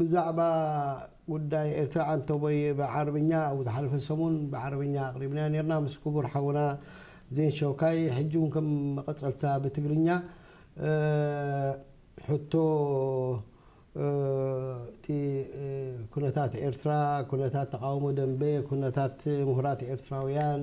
ብዛዕባ ጉዳይ ኤርትራ ዓንተቦየ ብዓረብኛ ኣብ ዝሓለፈ ሰሙን ብዓረብኛ ኣቕሪብናዮ ኔርና ምስ ክቡር ሓውና ዜን ሸውካይ ሕጂ ውን ከም መቐጸልታ ብትግርኛ ሕቶ እቲ ኩነታት ኤርትራ ኩነታት ተቓውሞ ደምበ ኩነታት ምሁራት ኤርትራውያን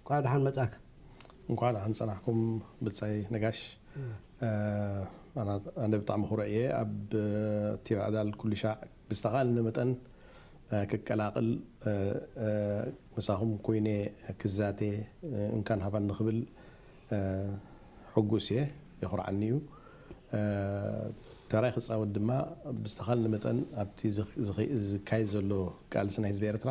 እንኳዕ ደሓን መፃእካ። እንኳዕ ደሓን ፀናሕኩም ብፃይ ነጋሽ ኣነ ብጣዕሚ ኩሩዕ እየ ኣብ ቲቪ ዕዳል ኩሉሻዕ ብዝተካእለኒ መጠን ክቀላቅል ምሳኩም ኮይነ ክዛተ እንካን ሃባኒ ክብል ሕጉስ እየ የኩርዓኒ እዩ ተራይ ክፃወት ድማ ብዝተካእለኒ መጠን ኣብቲ ዝካየድ ዘሎ ቃልሲ ናይ ህዝቢ ኤርትራ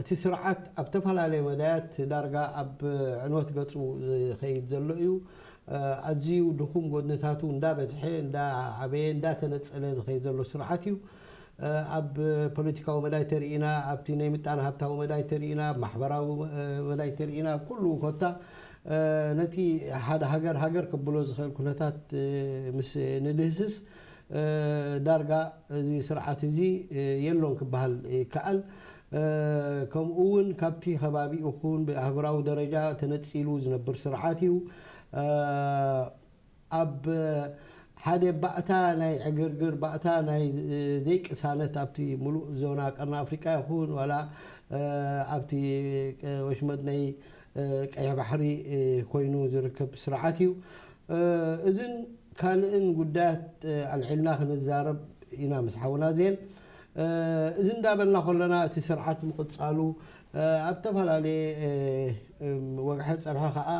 እቲ ስርዓት ኣብ ተፈላለየ መዳያት ዳርጋ ኣብ ዕንወት ገጹ ዝኸይድ ዘሎ እዩ። ኣዝዩ ድኹም ጎድንታቱ እንዳበዝሐ፣ እንዳዓበየ፣ እንዳተነጸለ ዝኸይድ ዘሎ ስርዓት እዩ። ኣብ ፖለቲካዊ መዳይ ተሪኢና፣ ኣብቲ ናይ ምጣነ ሃብታዊ መዳይ ተሪኢና፣ ኣብ ማሕበራዊ መዳይ ተሪኢና፣ ኣብ ኩሉ ኮታ ነቲ ሓደ ሃገር ሃገር ከብሎ ዝኸእል ኩነታት ምስ ንድህስስ፣ ዳርጋ እዚ ስርዓት እዚ የሎን ክበሃል ይከኣል። ከምኡ እውን ካብቲ ከባቢኡ ኹን ብኣህጉራዊ ደረጃ ተነጺሉ ዝነብር ስርዓት እዩ። ኣብ ሓደ ባእታ ናይ ዕግርግር፣ ባእታ ናይ ዘይቅሳነት ኣብቲ ምሉእ ዞና ቀርኒ ኣፍሪቃ ይኹን ዋላ ኣብቲ ወሽመጥ ናይ ቀይሕ ባሕሪ ኮይኑ ዝርከብ ስርዓት እዩ። እዝን ካልእን ጉዳያት ኣልዒልና ክንዛረብ ኢና ምስ ሓውና ዜን። እዚ እንዳበልና ከሎና እቲ ስርዓት ምቕጻሉ ኣብ ተፈላለየ ወግሐ ጸብሐ ከኣ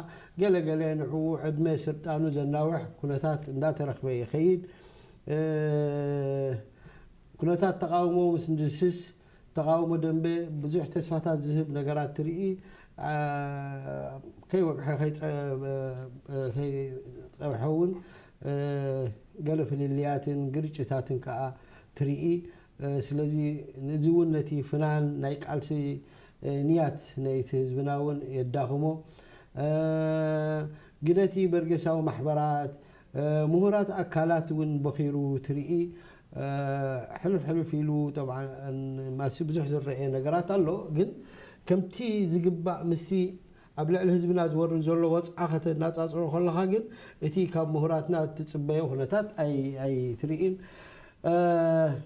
ገለ ገለ ንዕኡ ዕድመ ስልጣኑ ዘናውሕ ኩነታት እንዳተረኽበ ይኸይድ። ኩነታት ተቓውሞ ምስ ንድስስ ተቓውሞ ደምበ ብዙሕ ተስፋታት ዝህብ ነገራት ትርኢ፣ ከይወግሐ ከይጸብሐ'ውን ገለ ፍልልያትን ግርጭታትን ከኣ ትርኢ። ስለዚ እዚ'ውን ነቲ ፍናን ናይ ቃልሲ ንያት ናይቲ ህዝብና'ውን የዳኽሞ። ግደ'ቲ በርጌሳዊ ማሕበራት፣ ምሁራት ኣካላት'ውን ቦኺሩ ትርኢ። ሕልፍ ሕልፍ ኢሉ ጠብዓ ማሲ ብዙሕ ዝረኤ ነገራት ኣሎ ግን ከምቲ ዝግባእ ምስቲ ኣብ ልዕሊ ህዝብና ዝወርድ ዘሎ ወጽዓ ከተናጻጽሮ ከለኻ ግን እቲ ካብ ምሁራትና እትጽበዮ ኩነታት ኣይትርኢን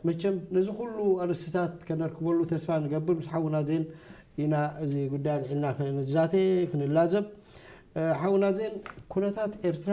መቸም ነዚ ኩሉ ኣርእስትታት ከነርክበሉ ተስፋ ንገብር ምስ ሓውና ዜን ኢና እዚ ጉዳይ ኣልዒልና ክንዛተ ክንላዘብ ሓውና ዜን ኩነታት ኤርትራ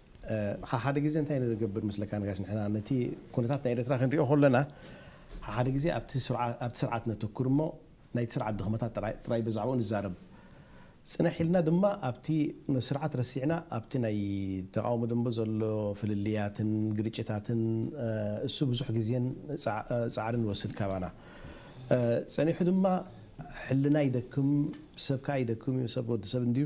ሓሓደ ግዜ እንታይ ንገብር መስለካ ነጋሽ ንሕና ነቲ ኩነታት ናይ ኤረትራ ክንሪኦ ከሎና ሓሓደ ግዜ ኣብቲ ኣብቲ ስርዓት ነተኩር እሞ ናይቲ ስርዓት ድክመታት ጥራይ ጥራይ ብዛዕባኡ ንዛረብ ጽንሕ ኢልና ድማ ኣብቲ ነቲ ስርዓት ረሲዕና ኣብቲ ናይ ተቃውሞ ደንበ ዘሎ ፍልልያትን ግርጭታትን እሱ ብዙሕ ግዜን ጻዕርን ይወስድ ካባና ጸኒሑ ድማ ሕልና ይደክም ሰብ ከኣ ይደክም እዩ ሰብ ወዲ ሰብ እንድዩ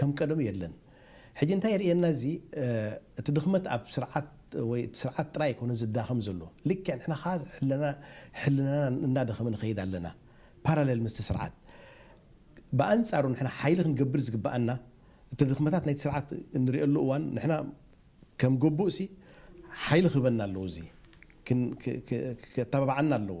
ከም ቀደሙ የለን ሕጂ እንታይ የርእየና እዚ እቲ ድኽመት ኣብ ስርዓት ወይ እቲ ስርዓት ጥራይ ኣይኮነን ዝዳኸም ዘሎ ልክዕ ንሕና ከኣ ሕልናና እናደኸመ ንኸይድ ኣለና ፓራለል ምስቲ ስርዓት ብኣንጻሩ ንሕና ሓይሊ ክንገብር ዝግብኣና እቲ ድኽመታት ናይቲ ስርዓት እንርእየሉ እዋን ንሕና ከም ግቡእሲ ሓይሊ ክህበና ኣለዎ እዚ ከተባብዓና ኣለዎ።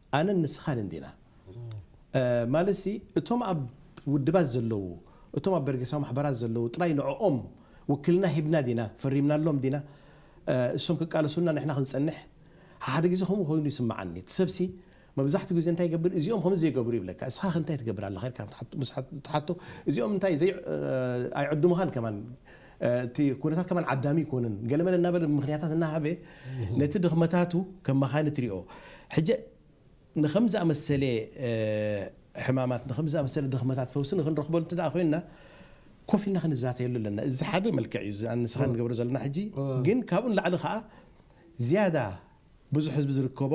ኣነን ንስኻን እንዲና ማለትሲ እቶም ኣብ ውድባት ዘለዉ እቶም ኣብ በርጌሳዊ ማሕበራት ዘለዉ ጥራይ ንዕኦም ውክልና ሂብና ዲና ፈሪምናሎም ዲና እሶም ክቃለሱልና ንሕና ክንጸንሕ ሓሓደ ግዜ ከምኡ ኮይኑ ይስምዓኒ እቲ ሰብሲ መብዛሕትኡ ግዜ እንታይ ይገብር እዚኦም ከምዚ ዘይገብሩ ይብለካ እስኻ ከ እንታይ ትገብር ኣለኻ ኢልካ ምስ ትሓቶ እዚኦም እንታይ ዘይ ኣይዕድሙኻን ከማን እቲ ኩነታት ከማን ዓዳሚ ኣይኮነን ገለመለ እናበለ ምኽንያታት እናሃበ ነቲ ድኽመታቱ ከም መኻንት ሪኦ ሕጀ ንኸምዚ ዝኣመሰለ ሕማማት ንኸምዚ ዝኣመሰለ ድኽመታት ፈውሲ ንኽንረኽበሉ እንተደኣ ኮይንና ኮፍ ኢልና ክንዛተየሉ ኣለና። እዚ ሓደ መልክዕ እዩ እዚ ኣነ ንስኻን ንገብሮ ዘለና ሕጂ ግን ካብኡ ንላዕሊ ከኣ ዝያዳ ብዙሕ ህዝቢ ዝርከቦ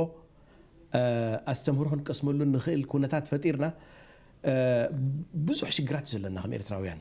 ኣስተምህሮ ክንቀስመሉ እንኽእል ኩነታት ፈጢርና ብዙሕ ሽግራት እዩ ዘለና ከም ኤርትራውያን።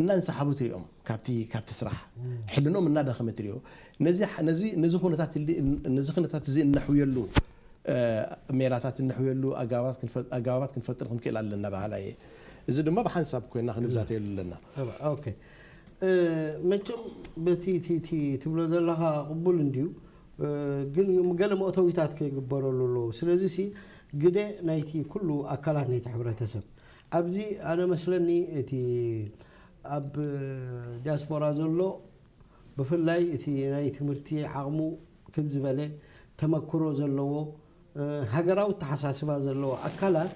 እናንሰሓቡ ትሪኦም ካብቲ ካብቲ ስራሕ። ሕልንኦም እናዳኸመ ትሪኦ። ነዚ ነዚ ነዚ ኩነታት እሊ ነዚ ኩነታት እዚ እነሕውየሉ ሜላታት እነሕውየሉ ኣገባባት ክንፈ ኣገባባት ክንፈጥር ክንክእል ኣለና በሃላይ እየ። እዚ ድማ ብሓንሳብ ኮይና ክንዛተየሉ ኣለና። ተባ ኦኬ መቸም በቲ እቲ እቲ ትብሎ ዘለኻ ቅቡል እንድዩ ግን ገለ መእተዊታት ክግበረሉ ኣለዎ። ስለዚሲ ግደ ናይቲ ኩሉ ኣካላት ናይቲ ሕብረተሰብ ኣብዚ ኣነ መስለኒ እቲ ኣብ ዲያስፖራ ዘሎ ብፍላይ እቲ ናይ ትምህርቲ ዓቕሙ ክብ ዝበለ ተመክሮ ዘለዎ ሃገራዊ ኣተሓሳስባ ዘለዎ ኣካላት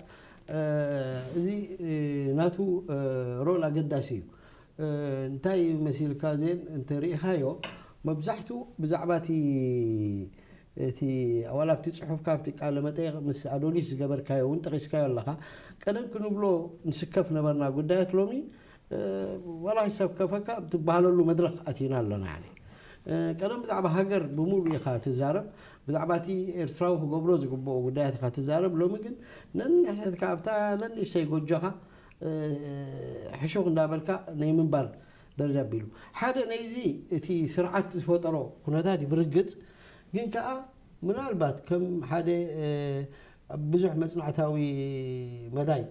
እዚ ናቱ ሮል ኣገዳሲ እዩ። እንታይ መሲልካ ዜን እንተሪኢኻዮ መብዛሕትኡ ብዛዕባ እቲ እቲ ዋላ ኣብቲ ጽሑፍካ ኣብቲ ቃለ መጠይቕ ምስ ኣዶሊስ ዝገበርካዮ እውን ጠቒስካዮ ኣለኻ። ቀደም ክንብሎ ንስከፍ ነበርና ጉዳያት ሎሚ ዋላ ኣይሰከፈካ ኣብ ትበሃለሉ መድረኽ ኣቲና ኣለና ያኒ። ቀደም ብዛዕባ ሃገር ብምሉእ ኢኻ ትዛረብ ብዛዕባ እቲ ኤርትራዊ ክገብሮ ዝግብኦ ጉዳያት ኢኻ ትዛረብ ሎሚ ግን ነንሕድሕድካ ኣብታ ነንእሽተይ ጎጆኻ ሕሹኽ እንዳበልካ ናይ ምንባር በል ኣቢሉ ሓደ ናይዚ እቲ ስርዓት ዝፈጠሮ ኩነታት እዩ ብርግጽ ግን ከኣ ምናልባት ከም ሓደ ብዙሕ መጽናዕታዊ መዳይ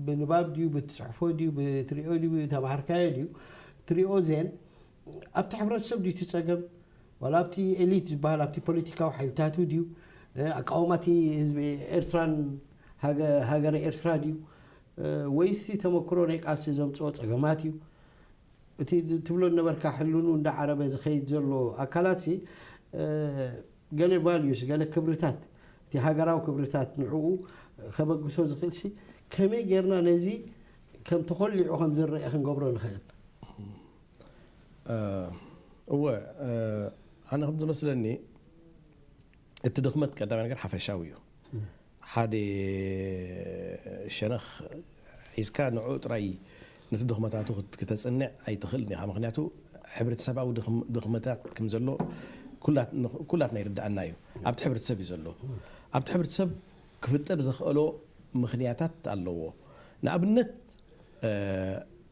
ብንባብ ድዩ ብትጽሕፎ ድዩ ብትሪኦ ድዩ ተማህርካዮ ድዩ ትሪኦ ዜን ኣብቲ ሕብረተሰብ ድዩ እቲ ጸገም ዋላ ኣብቲ ኤሊት ዝበሃል ኣብቲ ፖለቲካዊ ሓይልታቱ ድዩ ኣቃውማ እቲ ህዝቢ ኤርትራን ሃገረ ኤርትራ ድዩ ወይሲ ተመክሮ ናይ ቃልሲ ዘምጽኦ ጸገማት እዩ እቲ ትብሎ ነበርካ ሕልኑ እንዳ ዓረበ ዝኸይድ ዘሎ ኣካላትሲ ገለ ቫልዩስ ገለ ክብርታት እቲ ሃገራዊ ክብርታት ንዕኡ ከበግሶ ዝኽእልሲ ከመይ ጌርና ነዚ ከም ተኾሊዑ ከም ዝረአ ክንገብሮ ንኽእል እወ ኣነ ከም ዝመስለኒ እቲ ድኽመት ቀዳማይ ነገር ሓፈሻዊ እዩ። ሓደ ሸነኽ ሒዝካ ንዕኡ ጥራይ ነቲ ድኽመታቱ ክተጽንዕ ኣይትኽእልን ኢኻ። ምኽንያቱ ሕብረተሰባዊ ድኽመታት ከም ዘሎ ኩላትና ይርድኣና እዩ። ኣብቲ ሕብረተሰብ እዩ ዘሎ። ኣብቲ ሕብረተሰብ ክፍጠር ዘኽእሎ ምኽንያታት ኣለዎ። ንኣብነት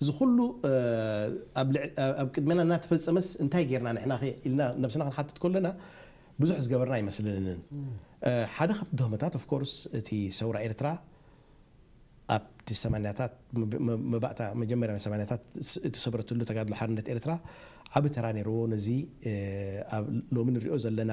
እዚ ኩሉ ኣብ ቅድሜና እናተፈጸመስ እንታይ ጌርና ንሕናኸ ኢልና ነብስና ክንሓትት ከሎና ብዙሕ ዝገበርና ኣይመስለንን። ሓደ ካብቲ ድኽመታት of course እቲ ሰውራ ኤርትራ ኣብቲ ሰማንያታት መባእታ መጀመርያ ናይ ሰማንያታት እተሰብረትሉ ተጋድሎ ሓርነት ኤርትራ ዓቢ ተራ ኔርዎ ነዚ ኣብ ሎሚ ንሪኦ ዘለና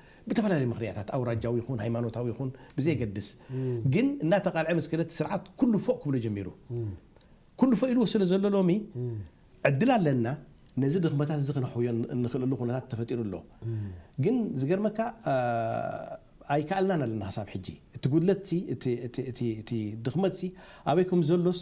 ብተፈላለየ ምኽንያታት ኣውራጃዊ ይኹን ሃይማኖታዊ ይኹን ብዘየገድስ ግን እናተቓልዐ ምስ ከደ እቲ ስርዓት ኩሉ ፎእ ክብሎ ጀሚሩ። ኩሉ ፎእ ኢልዎ ስለ ዘሎ ሎሚ ዕድል ኣለና ነዚ ድኽመታት እዚ ክነሕውዮ እንኽእለሉ ኩነታት ተፈጢሩ ኣሎ። ግን ዝገርመካ ኣይከኣልናን ኣለና ክሳብ ሕጂ። እቲ ጉድለትሲ እቲ ድኽመትሲ ኣበይ ከም ዘሎስ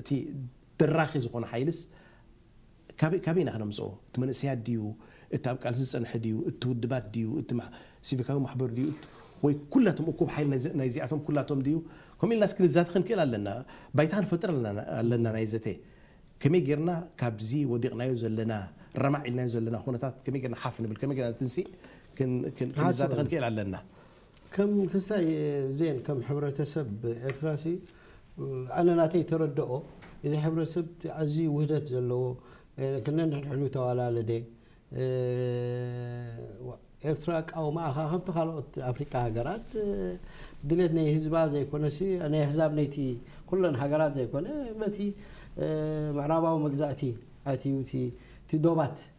እቲ ደራኺ ዝኾነ ሓይልስ ካበይ ካበይ ኢና ክነምጽኦ? እቲ መንእሰያት ድዩ? እቲ ኣብ ቃልሲ ዝጸንሐ ድዩ? እቲ ውድባት ድዩ? እቲ ሲቪካዊ ማሕበር ድዩ? ወይ ኩላቶም እኩብ ሓይሊ ናይዚኣቶም ኩላቶም ድዩ? ከምኡ ኢልናስ ክንዛተ ክንክእል ኣለና። ባይታ ክንፈጥር ኣለና ናይ ዘተ። ከመይ ጌርና ካብዚ ወዲቕናዮ ዘለና ረማዕ ኢልናዮ ዘለና ኩነታት ከመይ ጌርና ሓፍ ንብል? ከመይ ጌርና ንትንሲእ ክንዛተ ክንክእል ኣለና። ከም ክስታይ ዜን ከም ሕብረተሰብ ኤርትራሲ ኣነ ናተይ ተረደኦ እዚ ሕብረተሰብ ኣዝዩ ውህደት ዘለዎ ነንሕድሕዱ ተዋላለደ ኤርትራ ኣቃውማኣ ከኣ ከምቲ ካልኦት ኣፍሪቃ ሃገራት ድሌት ናይ ህዝባ ዘይኮነሲ ናይ ኣህዛብ ነይቲ ኩለን ሃገራት ዘይኮነ በቲ ምዕራባዊ መግዛእቲ ኣትዩ እቲ ዶባት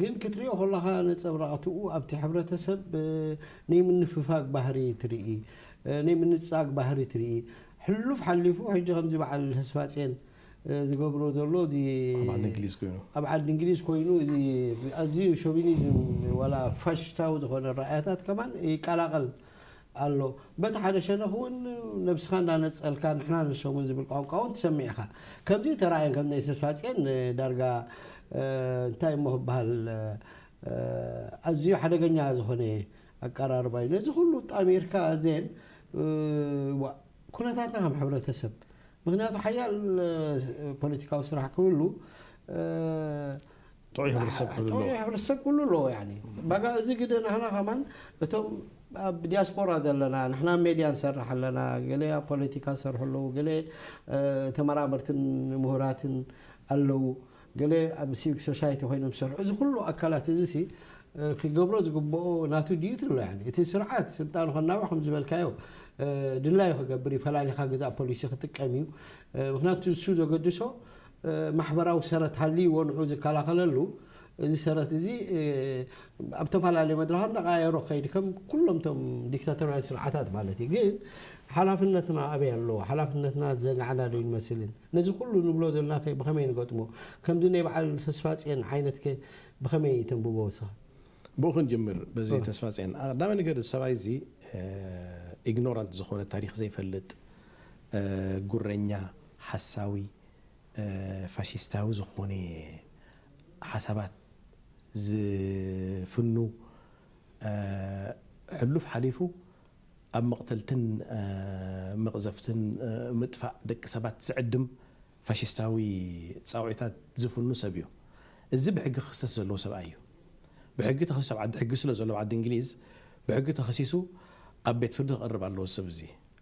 ግን ክትሪኦ ከለኻ ነጸብራቕትኡ ኣብቲ ሕብረተሰብ ነይ ምንፍፋግ ባህሪ ትርኢ፣ ነይ ምንጻግ ባህሪ ትርኢ። ሕሉፍ ሓሊፉ ሕጂ ከምዚ በዓል ተስፋጼን ዝገብሮ ዘሎ እዚ ኣብ ዓዲ እንግሊዝ ኮይኑ። ኣብ ዓዲ እንግሊዝ ኮይኑ እዚ ኣዝዩ ሾቪኒዝም ዋላ ፋሽሽታዊ ዝኾነ ኣረኣእያታት ከማን ይቀላቐል ኣሎ። በቲ ሓደ ሸነኽ እውን ነብስኻ እንዳነጸልካ ንሕና ንሶምን ዝብል ቋንቋ እውን ትሰምዕ ኢኻ። ከምዚ ተራእየን ከም እኒ ተስፋጽየን ዳርጋ እንታይ እሞ ክበሃል ኣዝዩ ሓደገኛ ዝኾነ ኣቀራርባ እዩ። ነዚ ኩሉ ኣጣሚርካ እዘን ዋእ ኩነታትና ከም ሕብረተሰብ ምኽንያቱ ሓያል ፖለቲካዊ ስራሕ ክህሉ ጥዑይ ሕብረተሰብ ኩሉ ኣለዎ። ጥዑይ ሕብረተሰብ ኩሉ ኣለዎ ያኒ በቃ እዚ ግደ ናህና ከማን እቶም ኣብ ዲያስፖራ ዘለና ንሕና ኣብ ሜድያ ንሰርሕ ኣለና ገለ ኣብ ፖለቲካ ዝሰርሑ ኣለዉ ገለ ተመራመርትን ምሁራትን ኣለዉ ገለ ኣብ ሲቪክ ሶሳይቲ ኮይኖም ዝሰርሑ እዚ ኩሉ ኣካላት እዚ ሲ ክገብሮ ዝግብኦ ናቱ ድዩት ኣሎ ያኒ እቲ ስርዓት ስልጣኑ ከናውሕ ከም ዝበልካዮ ድላዩ ክገብር እዩ ፈላሊኻ ግዛእ ፖሊሲ ክጥቀም እዩ ምክንያቱ ንሱ ዘገድሶ ማሕበራዊ ሰረት ሃልይዎ ንዕኡ ዝከላኸለሉ እዚ ሰረት እዚ ኣብ ተፈላለየ መድረኻት እንዳቐያየሮ ክኸይድ ከም ኩሎም እቶም ዲክታቶርያውያን ስርዓታት ማለት እዩ። ግን ሓላፍነትና ኣበይ ኣሎ? ሓላፍነትና ዝዘናዕና ዶ ኣይንመስልን? ነዚ ኩሉ ንብሎ ዘሎናከ ብኸመይ ንገጥሞ? ከምዚ ናይ በዓል ተስፋጽየን ዓይነትከ ብኸመይ ተንብቦ ንስኻ? ብኡ ክንጅምር በዚ ተስፋጽየን። ቀዳማይ ነገር እዚ ሰብኣይ እዚ ኢግኖራንት ዝኾነ ታሪኽ ዘይፈልጥ፣ ጉረኛ፣ ሓሳዊ፣ ፋሽስታዊ ዝኾነ ሓሳባት ዝፍኑ ሕሉፍ ሓሊፉ ኣብ መቕተልትን መቕዘፍትን ምጥፋእ ደቂ ሰባት ዝዕድም ፋሽስታዊ ጻውዒታት ዝፍኑ ሰብ እዩ። እዚ ብሕጊ ክኽሰስ ዘለዎ ሰብኣይ እዩ። ብሕጊ ተኸሲሱ ኣብ ዓዲ ሕጊ ስለ ዘሎ ኣብ ዓዲ እንግሊዝ ብሕጊ ተኸሲሱ ኣብ ቤት ፍርዲ ክቐርብ ኣለዎ እዚ ሰብ እዚ።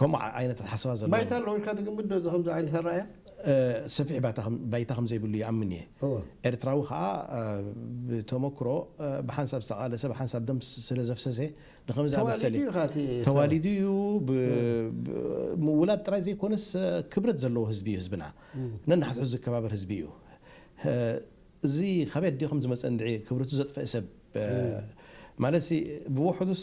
ከምኡ ዓይነት ኣተሓሳስባ ዘለዎም። ባይታ ኣሎ ኢልካ ትግምት ዶ እዚ ከምዚ ዓይነት ኣረኣእያ? ሰፊሕ ባይታ ባይታ ከም ዘይብሉ ይኣምን እየ። እወ። ኤርትራዊ ከኣ ብተመኩሮ ብሓንሳብ ዝተቓለሰ ብሓንሳብ ደም ስለ ዘፍሰሰ ንኸምዚ ኣመሰለ። ተዋሊዱ እዩ ከኣ እቲ ሰብ። ተዋሊዱ እዩ ብ ብ ምውላድ ጥራይ ዘይኮነስ ክብረት ዘለዎ ህዝቢ እዩ ህዝብና። ነንሓድሕዱ ዝከባበር ህዝቢ እዩ። እዚ ካበይ ኣዲኡ ከም ዝመጸ እንድዒ ክብረቱ ዘጥፈእ ሰብ ማለትሲ ብውሕዱስ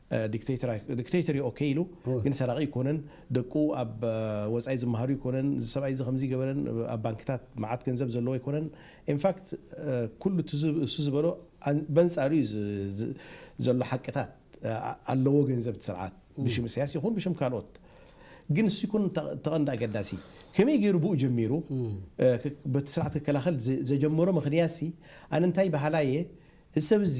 ዲክተይተር ዩ ኦከይ ኢሉ ግን ሰራቂ ኣይኮነን ደቁ ኣብ ወፃኢ ዝመሃሩ ኣይኮነን እዚ ሰብኣይ እዚ ከምዚ ገበረን ኣብ ባንክታት መዓት ገንዘብ ዘለዎ ኣይኮነን ኢንፋክት ኩሉ እሱ ዝበሎ በንፃሩ ዩ ዘሎ ሓቅታት ኣለዎ ገንዘብ እቲ ስርዓት ብሽም ኢሳያስ ይኹን ብሽም ካልኦት ግን እሱ ይኩን ተቐንዲ ኣገዳሲ ከመይ ገይሩ ብኡ ጀሚሩ በቲ ስርዓት ክከላኸል ዘጀመሮ ምክንያት ሲ ኣነ እንታይ በሃላይ እየ እዚ ሰብ እዚ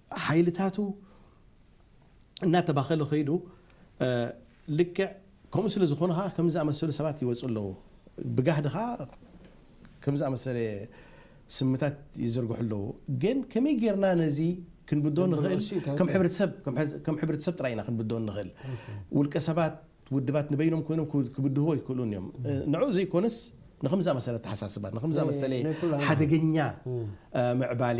ሓይልታቱ እናተባኸለ ከይዱ ልክዕ ከምኡ ስለ ዝኾኑ ኸዓ ከምዚ ዝኣመሰሉ ሰባት ይወፁ ኣለዉ። ብጋህዲ ኸዓ ከምዚ ዝኣመሰለ ስምታት ይዝርግሑ ኣለዉ። ግን ከመይ ጌርና ነዚ ክንብድሆ ንኽእል? ከም ሕብረተሰብ ከም ሕብረተሰብ ጥራይ ኢና ክንብድሆ እንኽእል። ውልቀ ሰባት ውድባት ንበይኖም ኮይኖም ክብድህዎ ኣይክእሉን እዮም። ንዕኡ ዘይኮነስ ንኸምዚ ዝኣመሰለ ኣተሓሳስባ ንኸምዚ ዝኣመሰለ ሓደገኛ ምዕባሌ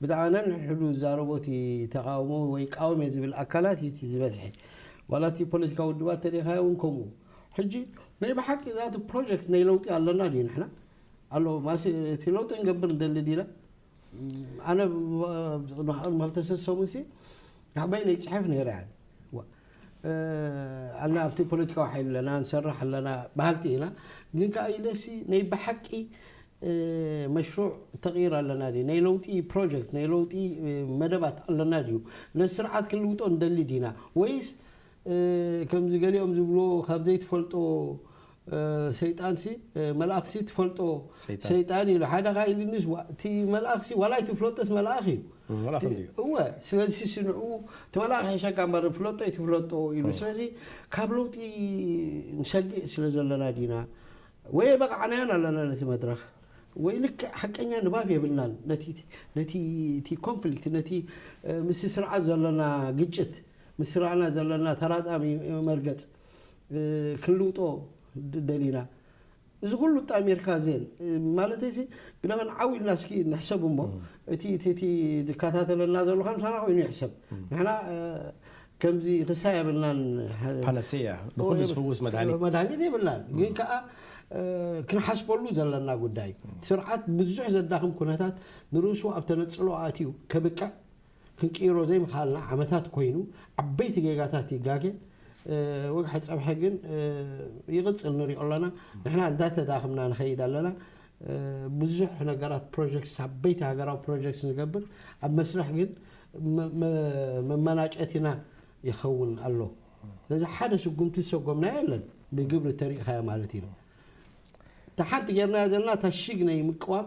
ብዛዕባ ነንሕድሕዱ ዝዛረቦ እቲ ተቓውሞ ወይ ይቃወም እየ ዝብል ኣካላት እዩ እቲ ዝበዝሐ። ዋላ እቲ ፖለቲካዊ ውድባት እንተሪእኻዮ እውን ከምኡ። ሕጂ ናይ ብሓቂ ዛት ፕሮጀክት ናይ ለውጢ ኣሎና ድዩ ንሕና? ኣሎ ማስ እቲ ለውጢ ክንገብር ንደሊ ዲና? ኣነ ን ክልተ ሰሙንሲ ናዕበይነይ ይጽሕፍ ነይረ ያኒ። ኣና ኣብቲ ፖለቲካዊ ሓይሊ ኣለና ንሰርሕ ኣለና በሃልቲ ኢና ግን ከዓ ኢለሲ ናይ ብሓቂ መሽሩዕ ተቕይር ኣለና ድዩ ናይ ለውጢ ፕሮጀክት ናይ ለውጢ መደባት ኣለና ድዩ ነዚ ስርዓት ክንልውጦ ንደሊ ዲና ወይስ ከምዚ ገሊኦም ዝብልዎ ካብ ዘይትፈልጦ ሰይጣንሲ መልኣኽሲ ትፈልጦ ሰይጣን። ሰይጣን እዩ ኢሉ ሓደ ኸኣ ኢሉኒስ ዋ- እቲ መልኣኽሲ ዋላ ኣይትፍለጦስ መልኣኽ እዩ እም፣ መልኣኽ እቲ- እንድዩ። እወ ስለዚ ሲ ንዕኡ እቲ መልኣኽ ይሕሸካ እምበር ፍለጦ ኣይትፍለጦ ኢሉ ስለዚ ካብ ለውጢ ንሰግእ ስለ ዘለና ዲና ወይ ኣይበቓዕናዮን ኣለና ነቲ መድረኽ ወይ ልክዕ ሓቀኛ ንባብ የብልናን ነቲ ነቲ እቲ ኮንፍሊክት ነቲ እ፣ ምስቲ ስርዓት ዘለና ግጭት ምስ ስርዓና ዘለና ተራጻሚ መርገጽ ክንልውጦ ደሊና እዚ ኩሉ ኣጣሚርካ ዜን ማለተይ ሲ ግደመን ዓው ኢልና እስኪ ንሕሰብ እሞ እቲ እቲ እቲ ዝከታተለና ዘሎ ከም ሳና ኮይኑ ይሕሰብ ንሕና ከምዚ ክሳ የብልናን ፓነሰያ ንኩሉ ዝፍውስ መድሃኒት መድሃኒት የብልናን ግን ከዓ ክንሓስበሉ ዘለና ጉዳይ እዩ ስርዓት ብዙሕ ዘዳኽም ኩነታት ንርእሱ ኣብ ተነፅሎ ኣትዩ ከብቅዕ ክንቅይሮ ዘይምኽኣልና ዓመታት ኮይኑ ዓበይቲ ጌጋታት ይጋገ ወግሐ ፀብሐ ግን ይቕፅል ንሪኦ ኣለና ንሕና እንዳተዳኽምና ንኸይድ ኣለና ብዙሕ ነገራት ፕሮጀክት ዓበይቲ ሃገራዊ ፕሮጀክት ንገብር ኣብ መስርሕ ግን መመናጨቲና ይኸውን ኣሎ ስለዚ ሓደ ስጉምቲ ዝሰጎምናዮ የለን ብግብሪ ተሪእኻዮ ማለት እዩ እታ ሓንቲ ጌርናያ ዘለና እታ ሽግ ናይ ምቅዋም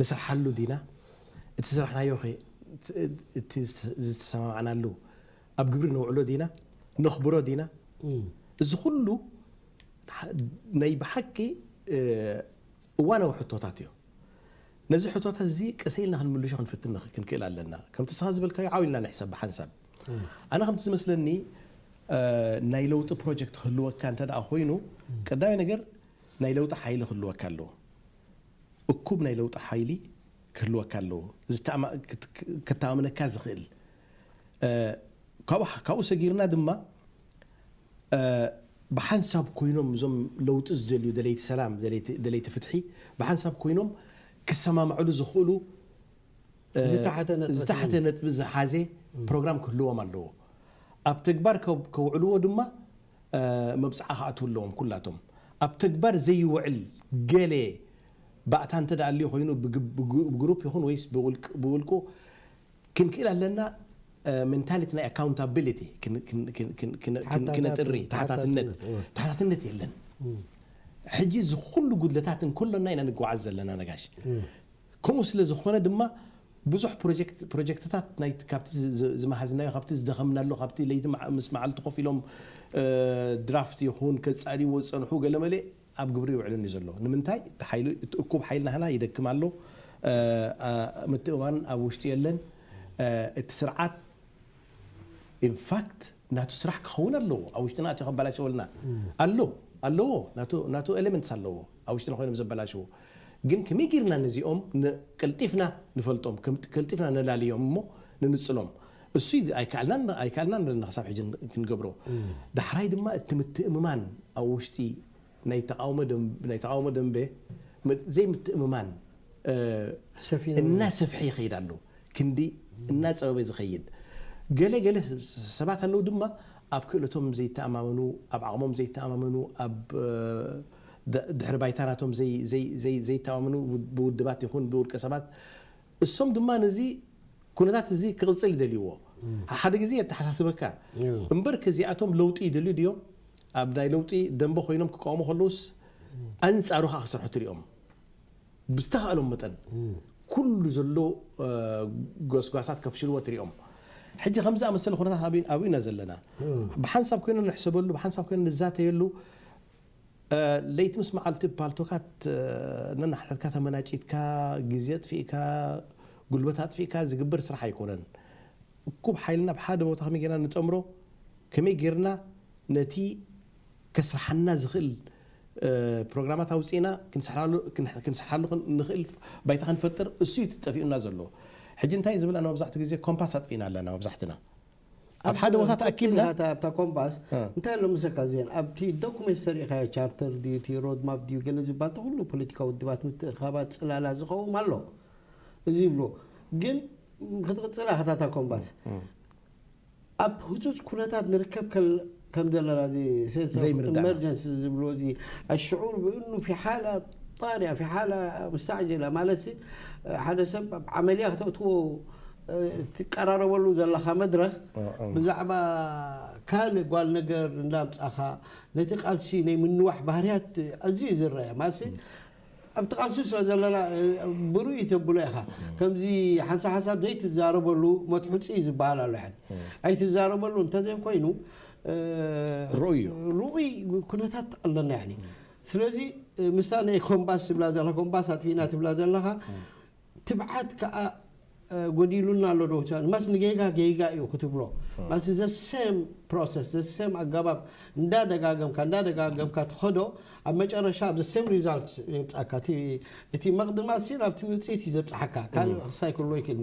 ንስርሓሉ ዲና? እቲ ዝሰራሕናዮኸ እቲ ዝተሰማማዕናሉ ኣብ ግብሪ ነውዕሎ ዲና? ነኽብሮ ዲና? እዚ ኹሉ ናይ ብሓቂ እዋናዊ ሕቶታት እዮም። ነዚ ሕቶታት እዚ ቀስ ኢልና ክንምልሾ ክንፍትን ክንክእል ኣለና። ከምቲ ንስኻ ዝበልካዮ ዓው ኢልና ንሕሰብ ብሓንሳብ። ኣነ ከምቲ ዝመስለኒ ናይ ለውጢ ፕሮጀክት ክህልወካ እንተድኣ ኮይኑ ቀዳማይ ነገር ናይ ለውጢ ሓይሊ ክህልወካ ኣለዎ። እኩብ ናይ ለውጢ ሓይሊ ክህልወካ ኣለዎ፣ ከተኣማምነካ ዝኽእል። ካብኡ ሰጊርና ድማ ብሓንሳብ ኮይኖም እዞም ለውጢ ዝደልዩ ደለይቲ ሰላም፣ ደለይቲ ፍትሒ ብሓንሳብ ኮይኖም ክሰማምዕሉ ዝኽእሉ ዝተሓተ ነጥቢ ዝሓዘ ፕሮግራም ክህልዎም ኣለዎ። ኣብ ተግባር ከውዕልዎ ድማ መብጽዓ ክኣትዉ ኣለዎም ኩላቶም። ኣብ ተግባር ዘይውዕል ገለ ባእታ እንተ ኣልዩ ኮይኑ ብግሩፕ ይኹን ወይስ ብውልቁ ክንክእል ኣለና ሜንታሊቲ ናይ ኣካውንታቢሊቲ ክነጥሪ ተሓታትነት ተሓታትነት የለን። ሕጂ እዚ ኩሉ ጉድለታት እንክሎና ኢና ንጉዓዝ ዘለና ነጋሽ። ከምኡ ስለ ዝኾነ ድማ ብዙሕ ፕሮጀክትታት ናይቲ ካብቲ ዝመሃዝናዮ ካብቲ ዝደኸምናሉ ካብቲ ለይቲ ምስ መዓልቲ ኮፍ ኢሎም ድራፍት ይኹን ከጻርይዎ ዝጸንሑ ገለመለ ኣብ ግብሪ ይውዕልን እዩ ዘሎ። ንምንታይ? እቲ ሓይሊ እቲ እኩብ ሓይሊ ናህና ይደክም ኣሎ። ምትእምማን ኣብ ውሽጢ የለን። እቲ ስርዓት ኢን ፋክት ናቱ ስራሕ ክከውን ኣለዎ ኣብ ውሽጥና ኣትዩ ከባላሽወልና ኣሎ ኣለዎ ናቱ ናቱ ኤለመንትስ ኣለዎ ኣብ ውሽጥና ኮይኖም ዘበላሽዉ ግን ከመይ ጊርና ነዚኦም ን ቀልጢፍና ንፈልጦም ከም ቀልጢፍና ነላልዮም እሞ ንንጽሎም እሱ ኣይከኣልናን ኣይከኣልናን ኣለና ክሳብ ሕጂ ክንገብሮ ዳሕራይ ድማ እቲ ምትእምማን ኣብ ውሽጢ ናይ ተቓውሞ ደምበ ዘይምትእምማን እናሰፍሐ ይኸይድ ኣሎ፣ ክንዲ እናጸበበ ዝኸይድ። ገለ ገለ ሰባት ኣለዉ ድማ ኣብ ክእለቶም ዘይተኣማመኑ፣ ኣብ ዓቕሞም ዘይተኣማመኑ፣ ኣብ ድሕሪ ባይታ ናቶም ዘይተኣማመኑ ብውድባት ይኹን ብውልቀ ሰባት እሶም ድማ ነዚ ኩነታት እዚ ክቕጽል ይደልይዎ። ሓሓደ ግዜ የተሓሳስበካ። እምበርከ እዚኣቶም ለውጢ ይደልዩ ድዮም? ኣብ ናይ ለውጢ ደምበ ኮይኖም ክቃወሙ ከለዉስ ኣንጻሩ ከኣ ክሰርሑ ትሪኦም። ብዝተኻእሎም መጠን ኩሉ ዘሎ ጎስጓሳት ከፍሽልዎ ትሪኦም። ሕጂ ከምዚ ዝኣመሰለ ኩነታት ኣብዩ ኢና ዘለና። ብሓንሳብ ኮይና ንሕሰበሉ፣ ብሓንሳብ ኮይና ንዛተየሉ፣ ለይቲ ምስ መዓልቲ ፓልቶካት ነንሓድሕድካ ተመናጪትካ ግዜ ኣጥፊእካ ጉልበት ኣጥፊእካ ዝግበር ስራሕ ኣይኮነን። እኩብ ሓይልና ኣብ ሓደ ቦታ ከመይ ጌርና ንጠምሮ፣ ከመይ ጌርና ነቲ ከስርሓና ዝኽእል ፕሮግራማት ኣውጺእና ክንሰርሓሉ ንኽእል ባይታ ክንፈጥር እሱ እዩ እቲ ጠፊኡና ዘሎ። ሕጂ እንታይ ዝብል ኣሎ መብዛሕትኡ ግዜ ኮምፓስ ኣጥፊእና ኣለና መብዛሕትና። ኣብ ሓደ ቦታ ተኣኪብና ኣታ ኣብታ ኮምባስ እ። እንታይ ኣሎ ምሰካ ዜን ኣብቲ ዶኩመንት ተሪኢኻዮ ቻርተር ድዩ እቲ ሮድማፕ ድዩ ገለ ዝባል ተኹሉ ፖለቲካዊ ውድባት ምትእኽኻባት ጽላላ ዝኸውም ኣሎ እዚ ይብልዎ ግን ም ክትቕጽላ ከታታ ኮምባስ እ። ኣብ ህጹጽ ኩነታት ንርከብ ከል ከም ዘለና እዚ ሴንስ ኦፍ ዘይምርዳእና። ኤመርጀንሲ ዝብልዎ እዚ ኣሽዑር ብእኑ ፊ ሓላ ጣርያ ፊ ሓላ ሙስተዕጀላ ማለትሲ ሓደ ሰብ ኣብ ዓመልያ ክተእትዎ ትቀራረበሉ ዘለኻ መድረኽ ብዛዕባ ካልእ ጓል ነገር እንዳምጻኻ ነቲ ቃልሲ ናይ ምንዋሕ ባህርያት ኣዝዩ እዩ ዝረኣ ማለትሲ ኣብቲ ቃልሲ ስለ ዘለና ብርኡ ኢተብሎ ኢኻ ከምዚ ሓንሳብ ሓንሳብ ዘይትዛረበሉ መትሑጺ ዝብሃል ኣሎ ሕድ ኣይትዛረበሉ እንተዘይ ኮይኑ ርኡይ እዩ ርኡይ ኩነታት ኣለና ያኒ ስለዚ ምስታ ናይ ኮምባስ ትብላ ዘለኻ ኮምባስ ኣጥፊእና ትብላ ዘለኻ ትብዓት ከኣ ጎዲሉና ኣሎ ዶ ትብል ማስ ንጌጋ ጌጋ እዩ ክትብሎ ማስ ዘ ሰም ፕሮሰስ ዘ ሰም ኣገባብ እንዳ ደጋገምካ እንዳ ደጋገምካ ትኸዶ ኣብ መጨረሻ ኣብ ዘ ሰም ሪዛልት የብጻካ እቲ መቕድማት ሲ ናብቲ ውጽኢት እዩ ዘብጽሓካ ካልእ ሳይክል ሎይክ እኒ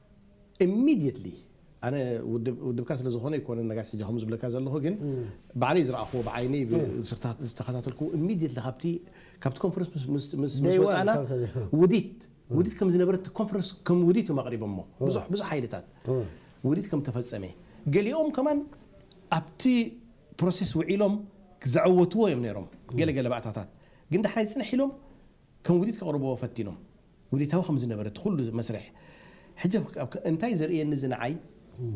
Immediately ኣነ ውድብ ውድብካ ስለ ዝኾነ ኣይኮነን ነጋሽ ሕጂ ከምኡ ዝብለካ ዘለኹ ግን ባዕለይ ዝረኣኽዎ ብዓይነይ ብዝተኸታ- ዝተኸታተልክዎ Immediately ካብቲ ካብቲ ኮንፈረንስ ምስ- ምስ- ምስ ምስ Day one ወጻእና ካብ ሰ- ውዲት ውዲት ከም ዝነበረት እቲ ኮንፈረንስ ከም ውዲት እዮም ኣቕሪቦሞ ብዙሕ ብዙሕ ሓይልታት ውዲት ከም ተፈጸመ ገሊኦም ከማን ኣብቲ ፕሮሴስ ውዒሎም ዘዐወትዎ እዮም ነይሮም ገለ ገለ ባእታታት ግን ዳሕራይ ጽንሕ ኢሎም ከም ውዲት ከቕርብዎ ፈቲኖም። ውዲታዊ ከም ዝነበረ እቲ ኩሉ መስርሕ። ሕጂ ኣብ እንታይ እዩ ዘርእየኒ እዚ ንዓይ?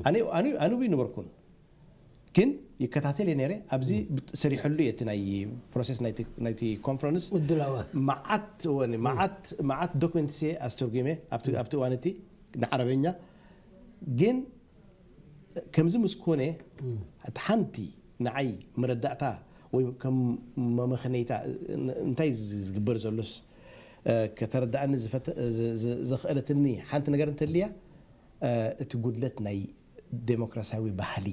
ኣነ ኣነ ኣይነበርኩን ግን ይከታተል እየ ነይረ። ኣብዚ ሰሪሐሉ እየ እቲ ናይ ፕሮሰስ ናይቲ ናይቲ ኮንፈረንስ ምድላዋት መዓት ወኒ መዓት መዓት ዶክመንትስ እየ ኣስተርጒመ ኣብቲ ኣብቲ እዋን እቲ ንዓረበኛ ግን ከምዚ ምስ ኮነ እቲ ሓንቲ ንዓይ መረዳእታ ወይ ከም መመኽነይታ እንታይ እዩ ዝግበር ዘሎስ ከተረድኣኒ ዘኽእለትኒ ሓንቲ ነገር እንተልያ እቲ ጉድለት ናይ ደሞክራስያዊ ባህሊ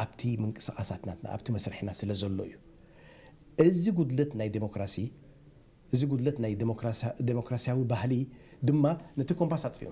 ኣብቲ ምንቅስቓሳት ናትና ኣብቲ መስርሕና ስለ ዘሎ እዩ። እዚ ጉድለት ናይ ደሞክራሲ እዚ ጉድለት ናይ ደሞክራስያዊ ባህሊ ድማ ነቲ ኮምፓስ ኣጥፊኡ።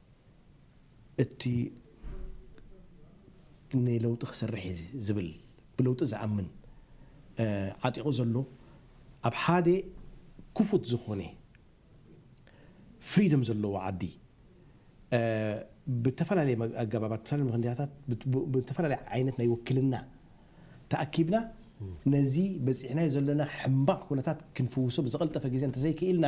እቲ ንለውጢ ክሰርሕ እየ ዝብል ብለውጢ ዝኣምን ዓጢቑ ዘሎ ኣብ ሓደ ክፉት ዝኾነ ፍሪደም ዘለዎ ዓዲ ብተፈላለየ ኣገባባት ብተፈላለየ ምክንያታት ብተፈላለየ ዓይነት ናይ ውክልና ተኣኪብና ነዚ በፂሕናዮ ዘለና ሕምባቕ ኩነታት ክንፍውሶ ብዝቐልጠፈ ግዜ እንተዘይክኢልና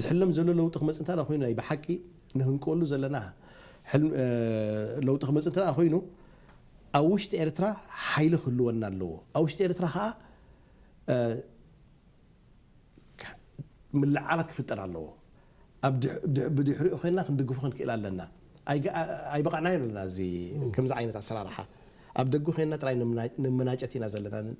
ዝሕለም ዘሎ ለውጢ ክመጽእ እንተድኣ ኮይኑ ናይ ብሓቂ ንህንቀወሉ ዘለና ሕልም ለውጢ ክመጽእ እንተድኣ ኮይኑ ኣብ ውሽጢ ኤርትራ ሓይሊ ክህልወና ኣለዎ። ኣብ ውሽጢ ኤርትራ ከኣ ምልዕዓላት ክፍጠር ኣለዎ። ኣብ ድሕ ድሕ ብድሕሪኡ ኮይንና ክንድግፎ ክንክእል ኣለና። ኣይግ ኣይበቓዕናዮን ኣለና እዚ ከምዚ ዓይነት ኣሰራርሓ። ኣብ ደገ ኮይንና ጥራይ ንምና ንምናጨት ኢና ዘለና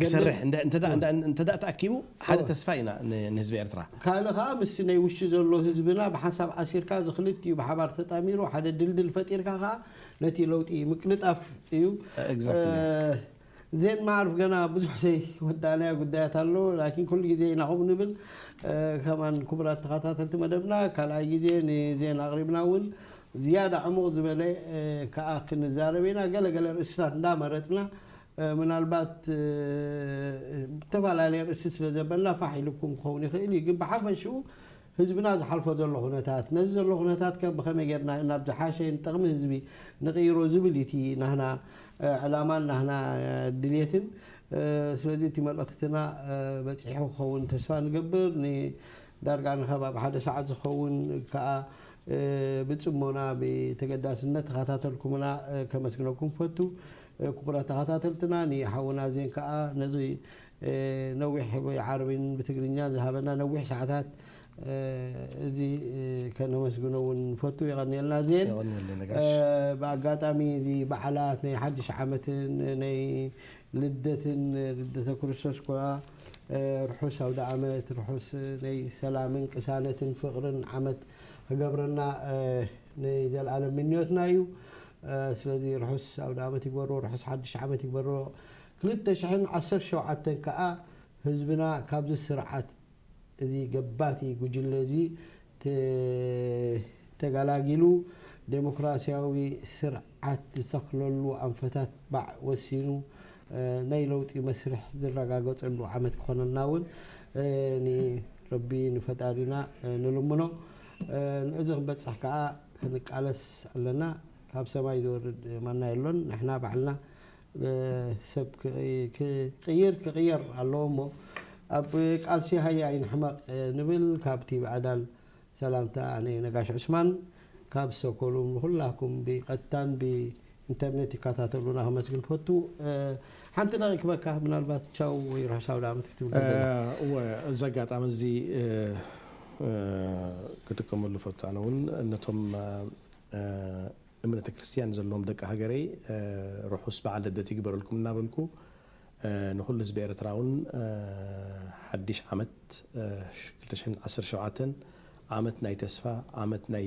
ክሰርሕ እንተ ተኣኪቡ ሓደ ተስፋ ኢና ንህዝቢ ኤርትራ። ካልእ ከኣ ምስቲ ናይ ውሽጢ ዘሎ ህዝብና ብሓንሳብ ኣሲርካ እዚ ክልቲኡ ብሓባር ተጣሚሩ ሓደ ድልድል ፈጢርካ ከኣ ነቲ ለውጢ ምቅልጣፍ እዩ። ዜን ማዕሩፍ ገና ብዙሕ ዘይወዳእናዮ ጉዳያት ኣሎ ላኪን ኩሉ ግዜ ኢና ከምኡ ንብል ከማን ክቡራት ተኸታተልቲ መደብና ካልኣይ ግዜ ንዜን ኣቕሪብና እውን ዝያዳ ዕሙቕ ዝበለ ከኣ ክንዛረብ ኢና ገለ ገለ ርእስታት እንዳመረጽና ምናልባት ብተፈላለየ ርእሲ ስለ ዘበልና ፋሕ ኢሉኩም ክኸውን ይኽእል እዩ፣ ግን ብሓፈሽኡ ህዝብና ዝሓልፎ ዘሎ ኩነታት፣ ነዚ ዘሎ ኩነታት ከ ብኸመይ ጌርና ናብ ዝሓሸ ንጠቕሚ ህዝቢ ንቕይሮ ዝብል እዩ እቲ ናህና ዕላማን ናህና ድልየትን። ስለዚ እቲ መልእኽትና በጺሑ ክኸውን ተስፋ ንገብር። ንዳርጋ ንከባቢ ሓደ ሰዓት ዝኸውን ከኣ ብጽሞና ብተገዳስነት ተኸታተልኩምና ከመስግነኩም እፈቱ። ኩቡራት ተኻታተልትና ንሓውና ዜን ካኣ ነዚ ነዊሕ ብዓረብን ብትግርኛን ዝሃበና ነዊሕ ሳዓታት እዚ ከነመስግኖ ውን ንፈቱ የቐንየልና ዜን የቐንየልና ነጋሽ። ብኣጋጣሚ እዚ ባዓላት ናይ ሓድሽ ዓመትን ናይ ልደትን ልደተ ክርስቶስ ኮኣ ርሑስ ኣውዳኣመት ርሑስ ናይ ሰላምን ቅሳነትን ፍቕርን ዓመት ክገብረልና ናይ ዘልኣለም ምንዮትና እዩ። ስለዚ ርሑስ ኣውደኣመት ይግበሮ ርሑስ ሓድሽ ዓመት ይግበሮ ክልተ ሽሕን ዓሰርተ ሸውዓተን ከኣ ህዝብና ካብዚ ስርዓት እዚ ገባቲ ጉጅለ እዚ ተጋላጊሉ ደሞክራሲያዊ ስርዓት ዝተኽለሉ ኣንፈታት ባዕ ወሲኑ ናይ ለውጢ መስርሕ ዝረጋገጸሉ ዓመት ክኾነልና ውን ንረቢ ንፈጣሪና ንልምኖ። ንእዚ ክንበጽሕ ከኣ ክንቃለስ ኣለና። ካብ ሰማይ ዝወርድ ማና የሎን። ንሕና ባዕልና ሰብ ክቕይር ክቕየር ኣለዎ እሞ ኣብ ቃልሲ ሃየ ኣይንሕመቕ ንብል። ካብ ቲቪ ኣዳል ሰላምታ ኣነ ነጋሽ ዑስማን ካብ ስቶኮሉም ንኹላኩም ብቀጥታን ብ ኢንተርኔት ይካታተሉና ከመስግን ፈቱ ሓንቲ ረኪበካ ምናልባት ቻው ወይ ርሑስ ኣውዳኣመት ክትብል ደለ እወ እዚ ኣጋጣሚ እዚ ክጥቀመሉ ፈቱ ኣነ እውን ነቶም እምነተ ክርስትያን ዘለዎም ደቂ ሃገረይ ርሑስ በዓል ልደት ይግበረልኩም እናበልኩ ንኩሉ ህዝቢ ኤርትራ እውን ሓዲሽ ዓመት ክልተ ሽሕን ዓሰርተ ሸውዓተን ዓመት ናይ ተስፋ ዓመት ናይ